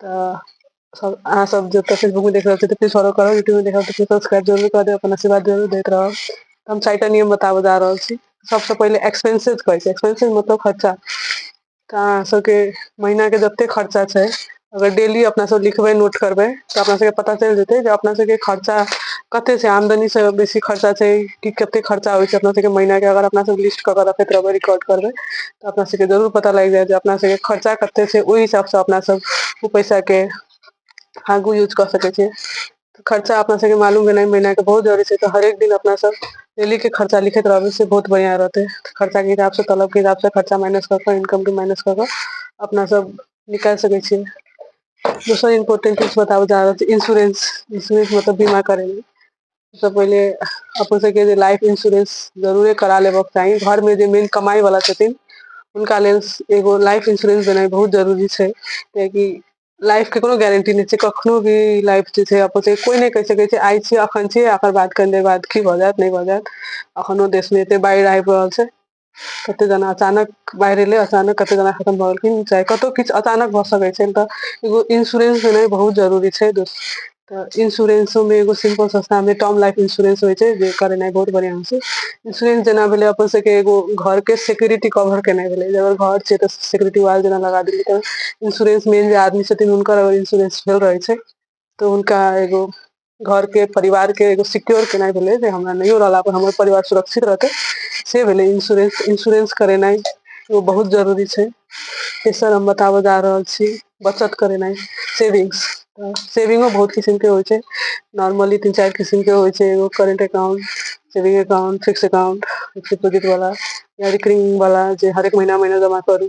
तऽ सब अहाँ सब जब तक फेसबुक मे देख रहल छी तऽ फेर फॉलो करब यूट्यूब मे देख रहल छी तऽ सब्सक्राइब जरूर कऽ देब अपन आशीर्वाद जरूर दैत रहब हम चारिटा नियम बताबऽ जा रहल छी सबसँ पहिले एक्सपेंसेस कहै छै एक्सपेंसेस मतलब खर्चा तऽ अहाँ सबके महीना के जते खर्चा छै अगर डेली अपना सब लिखबै नोट करबै तऽ अपना सबके पता चलि जेतै जे अपना सबके खर्चा कते छै आमदनी से बेसी खर्चा छै कि कते खर्चा होइ छै अपना सबके महीना के अगर अपना सब लिस्ट कऽ के रखैत रहबै रिकॉर्ड करबै तऽ अपना सबके जरूर पता लागि जाय जे अपना सबके खर्चा कते छै ओहि हिसाबसँ अपना सब ओ पैसा के आगू यूज कऽ सकै छी खर्चा अपना सबके मालूम भेनाइ महिना के बहुत जरुरी छै तऽ हरेक दिन अपना सब डेली के खर्चा लिखैत रहबै से बहुत बढ़िया रहतै खर्चा के हिसाब से तलब के हिसाब से खर्चा माइनस कऽ के इनकम के माइनस कऽ के अपना सब निकालि सकै छियै दोसर इम्पोर्टेंट चीज बताब इन्स्योरेन्स इन्स्योरेन्स मतलब बीमा करेनाइ सबसे पहिले अपन सबके जे लाइफ इन्स्योरेन्स जरूरे करा लेबक चाही घर मे जे मेन कमाई वाला छथिन हुनका लेल एगो लाइफ इन्स्योरेन्स देनाइ बहुत जरूरी छै कियाकि लाइफ के कोनो गारंटी नहि छै कखनो भी लाइफ जे छै अपन सबके कोई नहि कहि सकै छै आइ छियै अखन छियै एकर बाद कनि देर बाद की भऽ जायत नहि भऽ जायत अखनो देश मे एते बाढ़ि आबि रहल छै कते जना अचानक बाढ़ि एलै अचानक कते जना खतम भऽ गेलखिन चाहे कतहु किछु अचानक भऽ सकै छै तऽ एगो इन्श्योरेंस भेनाइ बहुत जरूरी छै दोस्त तऽ इन्श्योरेंसोमे एगो सिम्पल सस्तामे टर्म लाइफ इन्श्योरेंस होइ छै जे करेनाइ बहुत बढ़िआँ होइ छै इन्श्योरेंस जेना भेलै अपन सबके एगो घरके सिक्योरिटी कवर केनाइ भेलै जे अगर घर छै तऽ सिक्योरिटी वाल जेना लगा देलियै तऽ इन्श्योरेंस मेन जे आदमी छथिन हुनकर अगर इन्श्योरेंस भेल रहै छै तऽ हुनका एगो घर के परिवार के एगो सिक्योर केनाइ भेलै जे हमरा नहियो रहला पर हमर परिवार सुरक्षित रहतै से भेलै इन्स्योरेन्स इन्स्योरेन्स करेनाइ ओ बहुत जरूरी छै तेसर हम बताबऽ जा रहल छी बचत करेनाइ सेविंग्स सेविंगो बहुत किसिम के होइ छै नॉर्मली तीन चारि किसिम के होइ छै एगो current account saving account fix account deposit वाला या रिकरिंग वाला जे हरेक महीना महीना जमा करू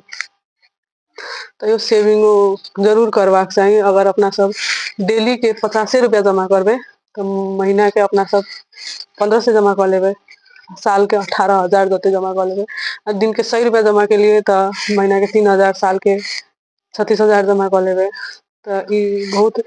तैयो सेविंग जरूर करबाक चाही अगर अपना सब डेली के पचासे रुपया जमा करबे तो महीना के अपना सब पंद्रह से जमा कर लेबे साल के अठारह हजार जते जमा कर लेबे आ दिन के सौ रुपया जमा के लिए तो महीना के तीन हजार साल के छत्तीस हजार जमा कर लेबे तऽ ई बहुत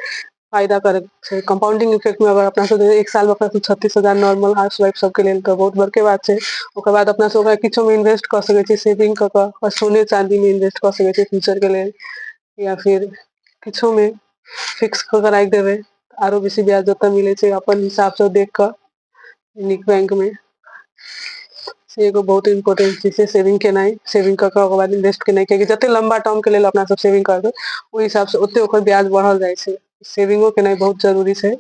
फायदा करैत छै कम्पाउंडिंग इफेक्ट मे अगर अपना सब एक साल मे अपना सब छत्तीस हजार नॉर्मल हाउस वाइफ सब के लेल तऽ बहुत बड़के बात छै ओकर बाद अपना सब किछो मे इन्वेस्ट कऽ सकै छी सेविंग कऽ कऽ आ सोने चाँदी मे इन्वेस्ट कऽ सकै छी फ्यूचर के लेल या फिर किछो मे फिक्स कऽ के राखि देबै आरो बेसी ब्याज ओतऽ मिलै छै अपन हिसाब सँ देख कऽ यूनिक बैंक में से एगो बहुत इम्पोर्टेंट चीज छै सेविंग केनाइ सेविंग कऽ कऽ ओकर बाद इन्वेस्ट केनाइ कियाकि जते लम्बा टर्म के लेल अपना सब सेविंग करबै ओहि हिसाब से ओते ओकर ब्याज बढ़ल जाइ छै सेविंगो केनाइ बहुत जरूरी छै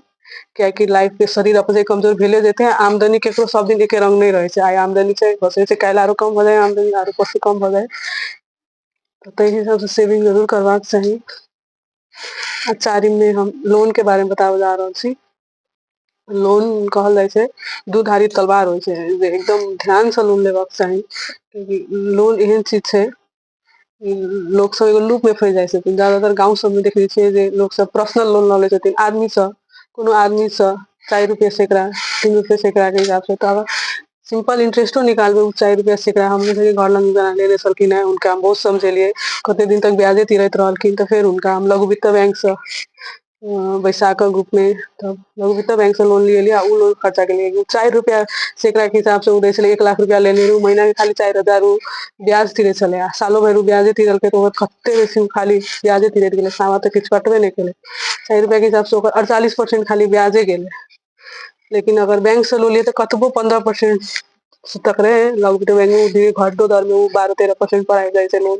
कियाकि लाइफ के शरीर अपने कमजोर भेले जेते हैं आमदनी केकरो सब दिन एके रंग नहीं रहे छै आइ आमदनी छै बस से काल्हि आरो कम भऽ जाय आमदनी आरो परसू कम भऽ जाय तऽ ताहि हिसाब से सेविंग जरूर करबाक चाही आ चारिम में हम लोन के बारे में बताबऽ जा रहल छी लोन कहल जाइ छै दू धारी तलवार होइ छै जे एकदम ध्यान से लोन लेबक चाही कियाकि लोन एहन चीज छै लोक सब एगो लूप मे फसि जाइ छथिन जादातर गाँंव सब मे देखै छियै जे लोक सब प्रसनल लोन लऽ लै छथिन आदमी सँ कोनो आदमी सँ चारि रुपए सैकड़ा तीन रुपए सैकड़ा के हिसाब सँ तऽ सिम्पल इंटरेस्टो निकालबे उ चारि रुपया सैकड़ा हमरे सबके घर लग जेना लेने छलखिन हे हुनका हम बहुत समझेलियै कते दिन तक ब्याजे तिरैत रहलखिन तऽ फेर हुनका हम लघु वित्त बैंक सँ बैसा कऽ ग्रुपमे तब लोक तऽ बैंकसँ लोन लिअ लिअ ओ लोन खर्चा केलियै चारि रुपैआ सैकड़ाके हिसाबसँ ओ दै छलै एक लाख रुपैआ लेने रहै ओ महीनाके खाली चारि हजार ओ ब्याज तिरै छलै आ सालो भरि ओ ब्याजे तिरलकै तऽ ओकर कतेक बेसी ओ खाली ब्याजे तिरैत गेलै सामा तऽ किछु कटबे नहि केलै चारि रुपैआके हिसाबसँ ओकर अड़तालीस परसेंट खाली ब्याजे गेलै लेकिन अगर बैंक से लो लिए तो कतबो पंद्रह परसेंट तक रहे लागू तो बैंक में धीरे घटो दर में वो बारह तेरह परसेंट पर आबि जाइ छै लोन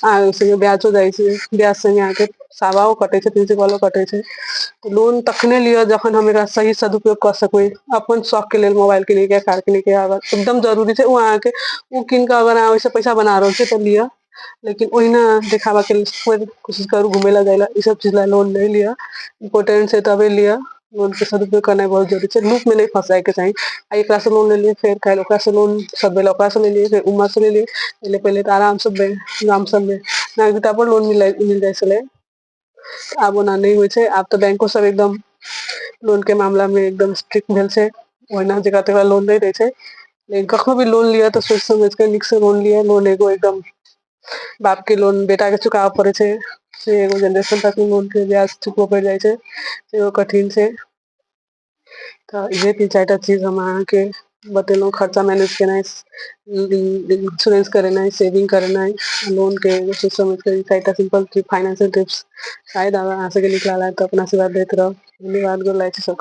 आ संगे ब्याजो जाइ छै ब्याज संगे अहाँके सावाओ कटै छै प्रिंसिपलो कटै छै तऽ लोन तखने लिअ जखन हम एकरा सही सदुपयोग कऽ सकबै अपन शौक के लेल मोबाइल किनै के कार किनै के अगर एकदम जरूरी छै ओ अहाँके ओ कीन कऽ अगर अहाँ ओहिसँ पैसा बना रहल छियै तऽ लिअ लेकिन ओहिना देखाबा के लेल कोई कोशिश करू घूमे ला जाय ला इ सब चीज ला लोन नहीं लिया इम्पोर्टेंट छै तबे लिया लोन के सदुपयोग करना बहुत जरूरी छै लूप में नहीं फंसाए के चाही आ एकरा से लोन लेलिए फेर काल्हि ओकरा से लोन सब बेला ओकरा से लेलिए फेर उमर से लेलिए पहिले पहिले तऽ आराम से बैंक गाम सब में नागरिकता पर लोन मिल जाय छले आब ओना नहि होइ छै आब तऽ बैंको सब एकदम लोन के मामला मे एकदम स्ट्रिक्ट भेल छै ओहिना जकरा तकरा लोन नहि दै छै लेकिन कखनो भी लोन लिअ तऽ सोचि समझ कऽ नीक से लोन लिअ लोन एगो एकदम बाप के लोन बेटा के चुकाबऽ पड़ै छै से एगो जनरेशन तक लोन के ब्याज चुकबऽ पड़ि जाइ छै सेहो कठिन छै तऽ इहे तीन चारि टा चीज हम अहाँके बतेलहुँ खर्चा मैनेज केनाइ इन्स्योरेन्स करेनाइ सेविंग करेनाइ लोन के सोचि समझि के ई चारि टा सिम्पल फाइनेंशियल टिप्स शायद अहाँ सबके नीक लागल हैत तऽ अपना आशीर्वाद दैत रहब धन्यवाद गोर लागै छी सबके